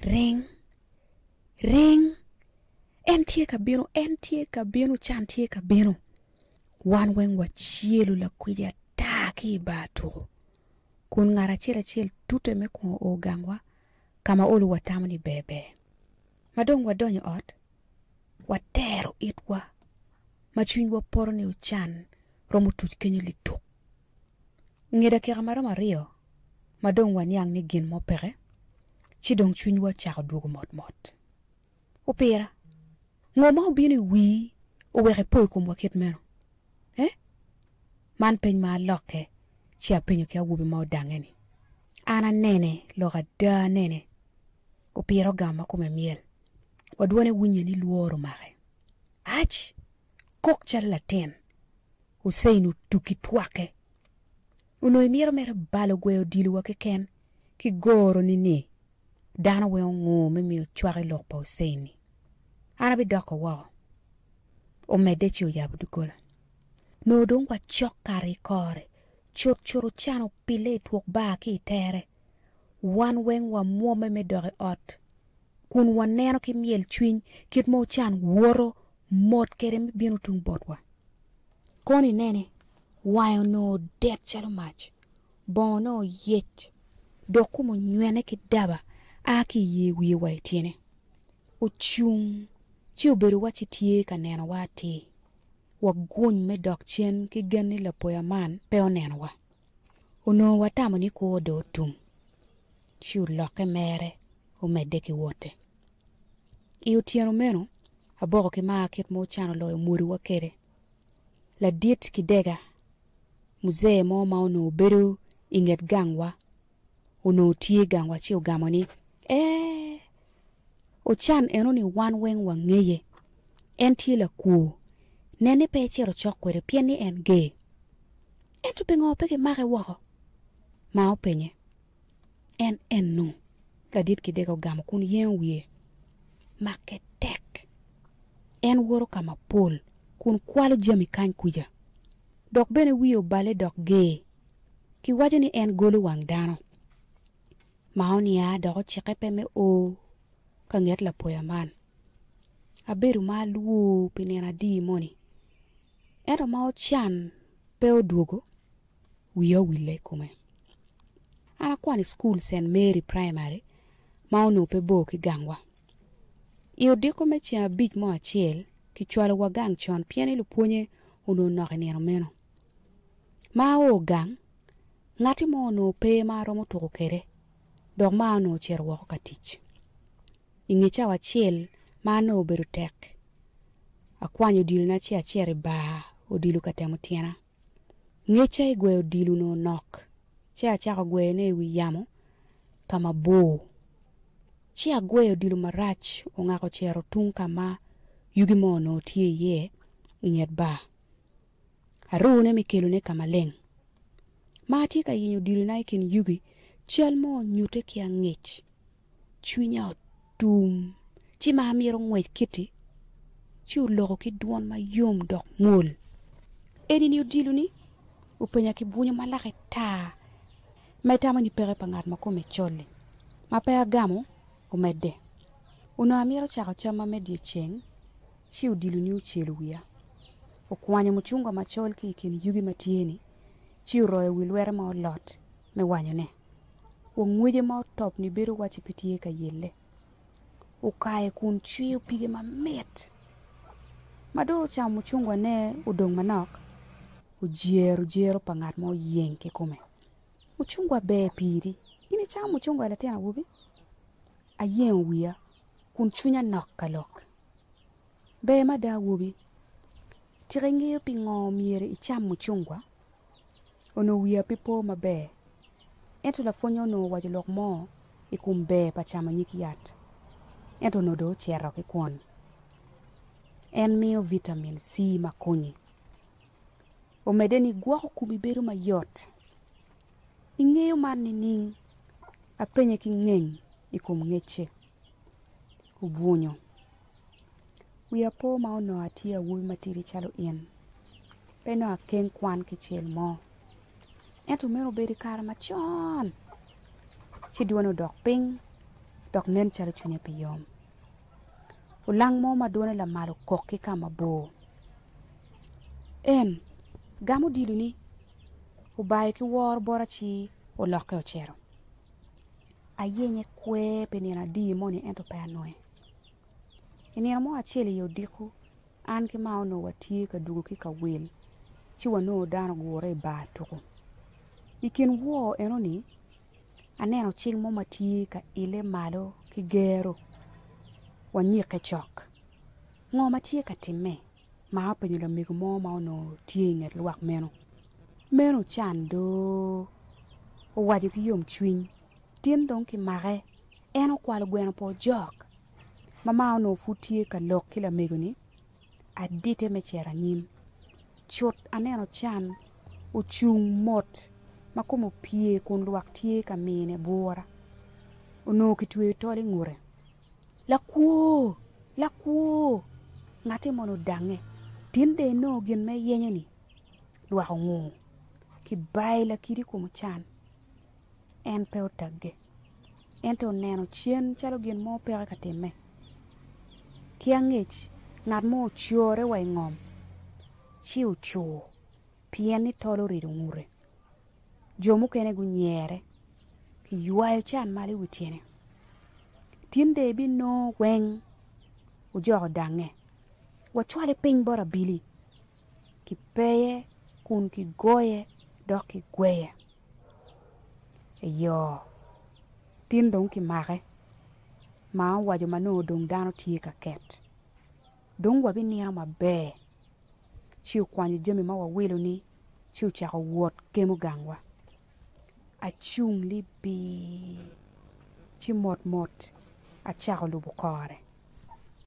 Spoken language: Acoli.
Ring! Ring! En tye ka bino, en tye ka bino, can tye ka bino. Wan weng wacelu lakwidi ata ki i bar tuko, kun ngat acel acel tute me kungo o gangwa ka ma olu watamo ni ber ber. Ma dong wadonyo i ot, watero itwa ma cwinywa poto ni ocan romo tuc kenyo lituk. Nge dakika ma romo aryo ma dong waniang ni gin mo peke, ci dong cwinywa ocako dwogo motmot. Opira, ngo ma obino i wii oweko ipo i komwa kit meno? Eh? Man peny ma alokke ci apenyo ki awobi ma odange-ni. An anene lok ada anene. Opira ogamo ma kome myel, wa dwone winye ni lworo omake. Ac! Kok calo latin! Hussein otugi twake. Onongo imito mere balo gwe odilo wa keken ki goro ni ni dano weng ongur me miyo cwak i lok pa Hussein ni an abi doko woko. Omedde ci oyabo dugola. Nongo dong wa cok kare i kore cut cut ocan opille i twok bar ki i tere. Wan weng wa mwomme me dok i ot kun wa neno ki myel cwiny kit ma ocan woto mot kede me bino tung bot wa. Kono inene Wange onongo odek calo mac, bongone oyec, dok kome onywene ki daba a ki i yer wiye wa i tyene. Ocung ci obedo wacci tye ka nenowa atir, waguny me dok cen ki gen ni lapoya man pe onenowa. Onongo watamo ni kwo dong otum, ci olokke mere omedde ki wote. I otyeno meno, Aboko ki Maa kit ma ocano loyo mwodiwa kwede. ladit kidega muzee mo ma onongo bedo i nget gangwa onongo tye i gangwa ci ogamo ni, Ee, Ochan eno-ni wan weng wangeye. En tye lakwo. Nen ni pe icito cok kwede pien ni en gay. Ento pingo pe kimake woko? ma openye. En enu ladit ki dege ogamo kun yengo wiye make tek. En woto ka mapol kun kwalo jami kany kuca, dok bene wiye obale dok ger. Kiwaco ni en golo wang dano ma onia dok ocikke pe me o ka nget lapoya man. Abedo ma alwor pi nino adier moni, ento ma ocan pe odwogo. wiya owille i kome. An akwano i cukul Cent Mary Praimari ma onongo pe bor ki gangwa. I odiko me ceng abic mo acel, kicwalowa gang con pien ni lupwonye onongo nok i nino meno. Ma ao gang, ngatti mo onongo pe ma aromo tuko kwede dok maa onongo ocito woko ka tic. I nge cawa acel ma an onongo obedo tek, akwanyo odilona ci acito i bar odilo ka temo tyena. Ngecca i gweyo odilo onongo nok, ci acako gweyone i wi yamo ka mabor. Ci agweyo odilo marac ongak ocito tung ka ma yugi mo onongo tye iye i nget bar. Arune me kelone ka maleng. Ma atye ka yenyo odilona i kin yugi, cal mo onyutte ki angec. Cwinya otum, ci ma amito ngwec kiti, ci oloko ki dwon ma yom dok mwol. Eni-ni odilo-ni? openya ki bwunyo ma lake tar, ma itamo ni peke pa ngat ma kome col-li. Ma pe agamo, omedde. Onongo amito cako camma me dyeceng, ci odilo-ni ocelo wiya. Okwanyo mucungwa macol ki i kin yugi ma tye-ni, ci oroyo wi lwete ma olot. me wanyone. Wang ngwece ma otop-ni bedo wacci pe tye ka yelle. Okayo kun cwiyo pige mamit. Ma dong ocamo mucungwane odong manok, ojero jero pa ngat ma oyeng ki kome. Mucungwa ber piri. In icamo mucungwa latin awobi? Ayengo wiya kun cwinya nok ka lok. Ber mada awobi. Tika ingeyo pingo myero icam mucungwa? onongo wiya pe po maber. Ento lapwonnya onongo owaco lok mo i kom ber pa camo nyig yat, ento onongo dong ocito ki kwon. En miyo vitamin C ma konyi. Omedde ni gwoko komi bedo mayot. Ingeyo man nining? Apenye ki ngeng i kom ngecce. obwunyo. Wiya po ma onongo atye awobi matidi calo in, pe nongo akeng kwan kicel mo. Ento meno obedo i kare macon ci dwone odok piny dok nen calo cwinye pe yom. Olang mo ma dwone lamal okok ki ka mabor. En gamo odilo-ni obayo ki woro bot aci olokke ocito. ayenye kwer pi nino adi moni ento pe anonge. I nino mo acel i odiko, an ki mama onongo watye ka dwogo ki ka wil ci wanongo dano ogure i bar tuku. I kin wor enoni aneno cing mo ma tye ka ile malo ki gero, wanyikke cok. Ngo ma tye ka timme? ma openyo lamego mo ma onongo tye i nget lwak meno. Meno ocan do. Owaco ki yomcwiny, Tin dong kimake. En okwalo gweno pa ojok. Mama onongo pud tye ka lok ki lamego-ni, adite me cito anyim. Cut aneno ocan ocung mot ma kome opye kun lwak tye ka mine bwura. Onongo kitweyo tol i ngute. Lakwo! Lakwo! Ngati moni odangnge, tin dong inongo gin ma iyenyo-ni lwak ongur. Kibayi lakidi i kom ocan. En pe otagge, ento oneno cen calo gin mo peke ka timme. Ki angec, ngat mo ocore wa i ngom, ci ocur. Pien ni tol orido ngute, jo mukene gunyere, kiywayo can malo i wi tyene. Tin dong ebinongo weng ojoko dangnge, wacwale piny bot abili, kipeye kun kigoye dok kigweye. Eyo, tin dong kimake, ma owaco ma nongo dong dano tye ka ket. Dong wabinino maber, ci okwanyo jami ma wawilo-ni, ci ocako wot kemo gangwa. Acung libir, ci motmot acako lubo kore.